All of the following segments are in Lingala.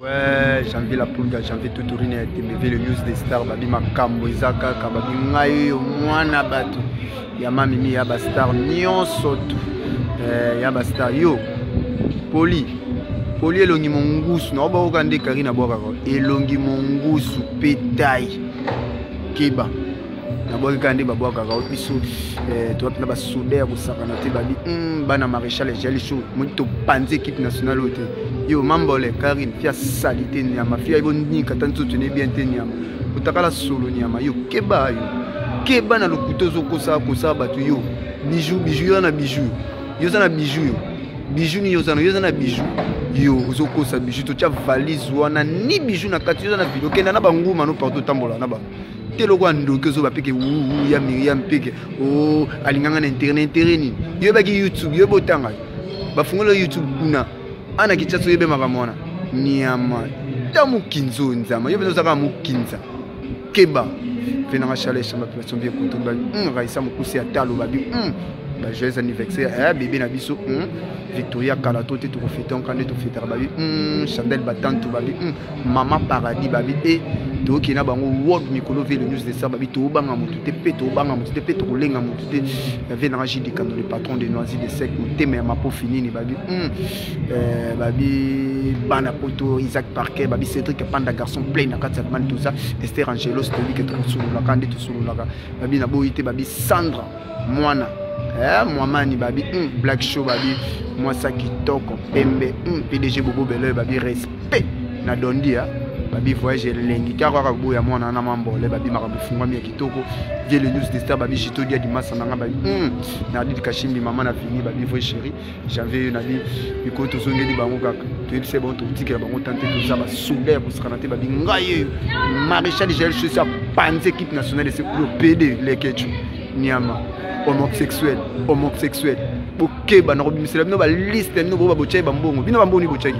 Ouais, janvier la poule de janvier tuturine ya temeve le news des stars babi makambo eza kaka babi ngai yo mwana bato ya mamimi ya bastar nyonso tu eh, ya bastar yo poli poli elongi mongusu na obakoka nde karine abwakaka elongi mongusu petai keba nabwaki kaka nde babwakaka o biso eh, towapi na basoda ya kosakana te babi hmm, bana maréchal ejali sho modi topanzi équipe nationale oyo te yo mambole karine fia sali te nyama fia ibo nika ta nzoto ne bien te nyama otakala solo nyama yo keba yo keba na lokuta ozokosa kosa bato yo bijou bijou yo na bijou yo oza na bijou yo bijou nini ozana yo oza na bijou yo ozokosa bijou totya valise wana ni bijou na kati yo oza na video okenda na banguma no partout otambola na bango te lokola ndoki ozoba peke wuwu ya miriam peke o oh, alinganga na intere na intere nini yoyebaki youtube yoyebi otanga bafungoli yo youtube kuna ana kinshasa oyebi makambo wana niama ta mokinza oyo nzama yo mpenza ozaka mokinza keba mpe nanga chaleur chamba population bien kutu ba hmm, raisa mokusi ya talo babi hmm, ba joyeux anniversaire eh, bebe na biso hmm, victoria kala to te tokofete onka nde tofetaka babi chandel batantu babi mama paradis babi e toyoki na bango world mikolo ve le news de sa babi tobanga motu te mpe tobanga motu te mpe tokolenga motu te yave na raji dikando le patron de noisi de sec motema ya mapofi nini babi hmm. eh, babi bana poto isaac parker babi cédrik panda garçon plein na kati ya bani toza ester angelos toyebi ke tokosololaka nde tosololaka babi naboyi te babi sandra mwana eh, mwamani babi mm, black show babi mwasa kitoko pembe mm, pdg bobo beloi babi respect na dondia babi voyage elengi kaka kaka boya mwana wana mambole babi makambo efungwami ya kitoko vie le news de star babi jito dia dimasa na nga babi mm, na adid kashimbi mama na fini babi voye chérie janvier yo nabi mikolo tozongeli bango kaka toyebi se bango tokotikela bango tan te toza basoda ya kosakana te babi ngai yeyo maréchal jael sosi apanzi équipe nationale ese lopede lekecu niama homosexuel homosexuel bokeba na kobimisela bino baliste ya bino boba botyaki bambongo bino bambongo ni botyaki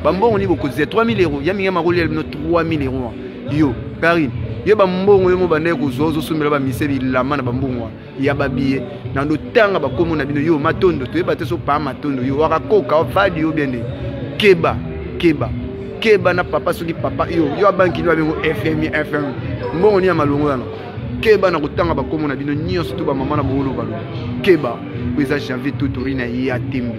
bambongo ni bokozia 3000 euro ya mingi ya makolia bino 3000 euro yo karine ye bambongo yo mobanda ye kozwa ozosombela bamise bilama na bambongo wana ya babiye na ndotanga bakomo na bino yo matondo toyeba te so paa matondo yo waka koka ovadi yo biende keba keba keba na papa soki papa yo yo abanki nio abengo fmi fm mbongo nini ya malongo yana keba na kotanga bakomo na bino nyonso to bamama na bongolobalo keba oyo eza janvier totori na ye ya tembe